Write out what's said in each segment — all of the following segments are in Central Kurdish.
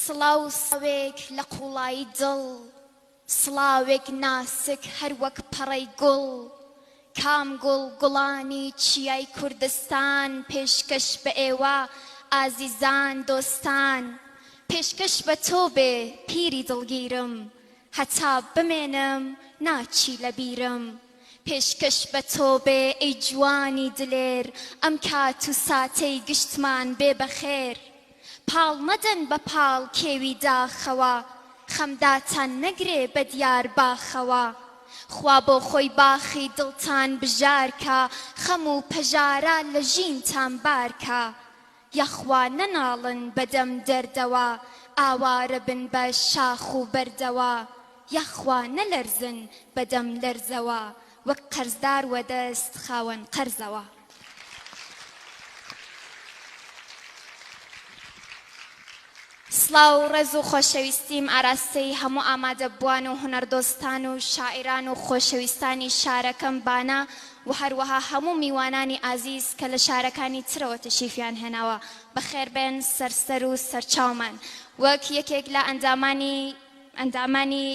سڵاو سڵاوێک لە قوڵایی دڵ سڵاوێک ناسک هەر وەک پەڕەی گوڵ کام گوڵ گوڵانی چیای کوردستان پێشکەش بە ئێوە ئازیزان دۆستان پێشکەش بە تۆ بێ پیری دڵگیرم هەتا بمێنم ناچی لە بیرم پێشکەش بە تۆ بێ ئەی جوانی دلێر ئەم کات و ساتەی گشتمان بێ بە خێر پاڵ مەدەن بە پاڵ کێوی داخەوە خەم داتان نەگرێ بە دیار باخەوە خوا بۆ خۆی باخی دڵتان بژار کا خەم و پەژارە لە ژینتان بار کا یەخوا نەناڵن بە دەم دەردەوە ئاوارە بن بە شاخ و بەردەوە یەخوا نەلەرزن بە دەم لەرزەوە وەک قەرزدار وە دەست خاوەن قەرزەوە. سڵاو ڕێز و خۆشەویستیم ئاراستەی هەموو ئامادەبووان و هونەردۆستان و شاعیران و خۆشەویستانی شارەکەم بانە و هەروەها هەموو میوانانی ئازیز کە لە شارەکانی ترەوە تەشیفیان هێناوە بەخێربێن سەرسەر و سەرچاومان وەک یەکێک لە ئەندامانی ئەندامانی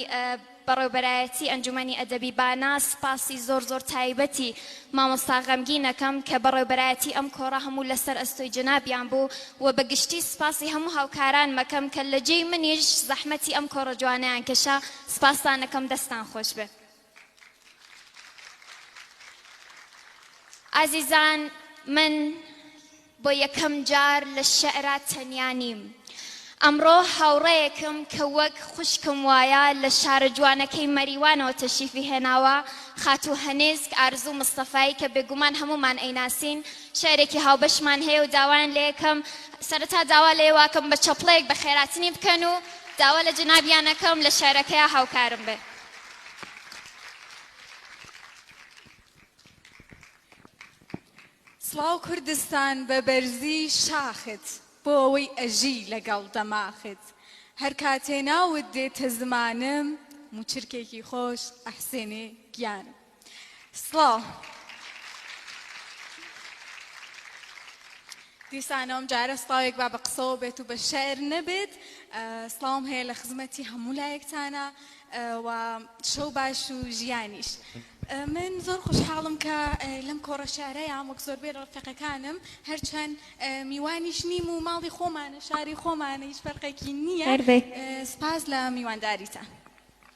بەڕێوبەرایەتی ئەنجومەنی ئەدەبی بانە سپاسی زۆر زۆر تایبەتی مامۆستا غەمگین ئەکەم کە بەڕێوبەرایەتی ئەم کۆڕە هەموو لەسەر ئەستۆی جەنابیان بوو و بە گشتی سپاسی هەموو هاوکارانم ئەکەم کە لە جێی منیش زەحمەتی ئەم کۆڕە جوانەیان کێشا سپاستان ئەکەم دەستان خۆشبێ. ئازیزان من بۆ یەکەم جار لە شعرا تەنیا نیم ئەمڕۆ هاوڕەیەکم کە وەک خوشکم وایە لە شارە جوانەکەی مەریوانەوە تەشیفی هێناوە خاتوو هەنێسک ئارزوو مستەفایی کە بێگومان هەمومان ئەیناسین شعرێکی هاوبەشمان هەیە و داوایان لە یەکەم سەرەتا داوا لە یەواکەم بە چەپڵەیەک بە خێراتنی بکەن و داوا لە جنابیانەکەم لە شعرەکەیا هاوکارم بێ سڵاو کوردستان بە بەرزی شاخت بۆ ئەوەی ئەژی لەگەڵ دەماخت هەر کاتێ ناوت دێتە زمانم موچرکێکی خۆش ئەحسێنێ گیان. سڵاو. دیسانە ئەم جارە سڵاوێک با بە قسەوە بێت و بە شعر نەبێت سڵاوم هەیە لە خزمەتی هەموو لایەکتانە و شەو باش و ژیانیش. من زۆر خوشحاڵم کە لەم کۆڕە شارەیان وەک زۆربێ ڕفقەکانم هەرچەند میوانیش نیم و ماڵی خۆمانە شاری خۆمانە هیچ فەرقێکی نییە سپاس لە میوانداریتان.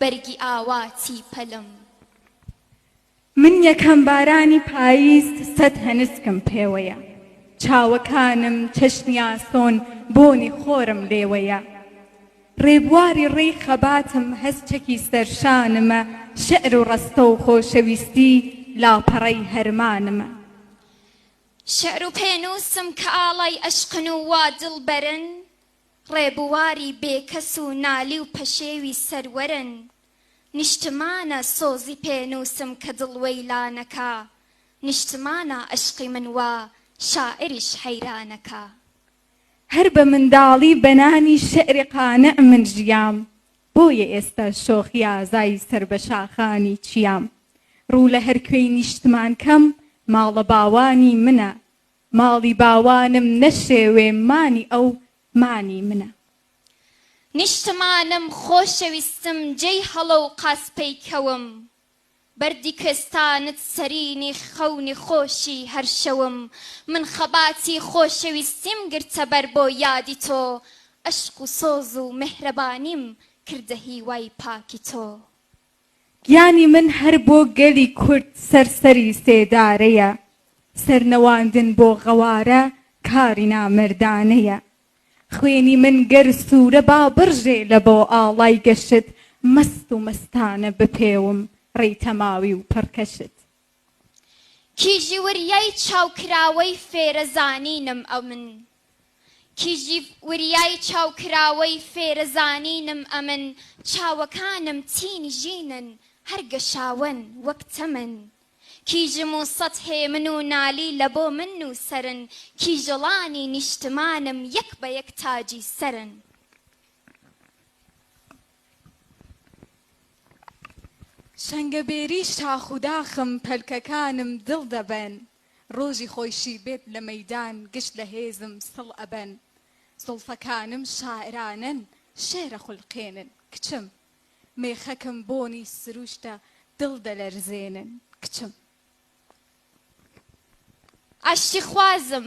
بەرگی ئاواتی پەلم. من یەکەم بارانی پاییز سەد هەنسکم پێوەیە چاوەکانم چەشنی ئاسۆن بۆنی خۆرم لێوەیە ڕێبواری ڕێی خەباتم هەست چەکی سەر شانمە شعر و ڕەستە و خۆشەویستی لاپەڕەی هەرمانمە. شعر و پێنووسم کە ئاڵای ئەشقن و وا دڵبەرن. ڕێبواری بێکەس و نالی و پەشێوی سەروەرن نیشتمانە سۆزی پێ نووسم کە دڵ وەیلانەکا نیشتمانە ئەشقی من وا شاعریش حەیرانەکا. هەر بە منداڵی بە نانی شعری قانع من ژیام بۆیە ئێستا شۆخی ئازای سەر بە شاخانی چیام ڕوو لە هەر کوێی نیشتمان کەم ماڵە باوانی منە ماڵی باوانم نەشێوێ مانی ئەو مانی منە. نیشتمانم خۆشەویستم جێی هەڵۆ و قاز پەیکەوم. بەردی کوێستانت سەرینی خەونی خۆشی هەر شەوم. من خەباتی خۆشەویستیم گرتە بەر بۆ یادی تۆ. ئەشق و سۆز و مێهرەبانیم کردە هیوای پاکی تۆ. گیانی من هەر بۆ گەلی کورد سەر سەری سێدارەیە سەرنواندن بۆ غەوارە کاری نامەردانەیە خوێنی من گەر سورە با بڕژێ لە بۆ ئاڵای گەشت مەست و مەستانە بپێوم ڕێی تەماوی و پڕکەشت. کیژی وریای چاو کراوەی فێرە زانینم ئەمن کیژی وریای چاو کراوەی فێرە زانینم ئەمن چاوەکانم تین ژینن هەر گەشاوەن وەک تەمن کیژم و سەد هێمن و نالی لە بۆ من نووسەرن کیژەڵانی نیشتمانم یەک بە یەک تاجی سەرن. سەنگەبێری شاخ و داخم پەلکەکانم دڵ دەبەن ڕۆژی خۆشی بێت لە مەیدان گشت لە هێزم سڵ ئەبەن زوڵفەکانم شاعرانەن شێعر ئەخولقێنن کچم مێخەکم بۆنی سروشتە دڵ دەلەرزێنن کچم. ئاشتی خوازم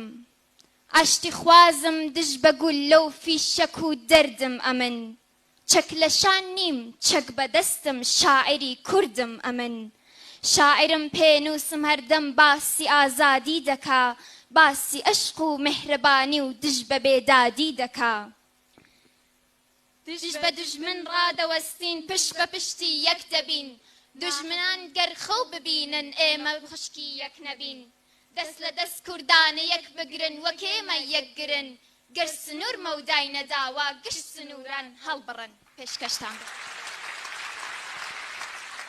ئاشتی خوازم دژ بە گوللە و فیشەک و دەردم ئەمن چەک لە شان نیم چەک بە دەستم شاعری کوردم ئەمن شاعرم پێنووسم هەردەم باسی ئازادی دەکا باسی ئەشق و مێهرەبانی و دژ بە بێدادی دەکا دژ بە دوژمن ڕادەوەستین پشت بە پشتی یەک دەبین دوژمنان گەر خەو ببینن ئێمە خوشکی یەک نەبین دەست لە دەست کوردانە یەک بگرن وەک ئێمە یەک گرن گەر سنور مەودای نەداوە گشت سنوران هەڵبڕن پێشکەشتان بکەم.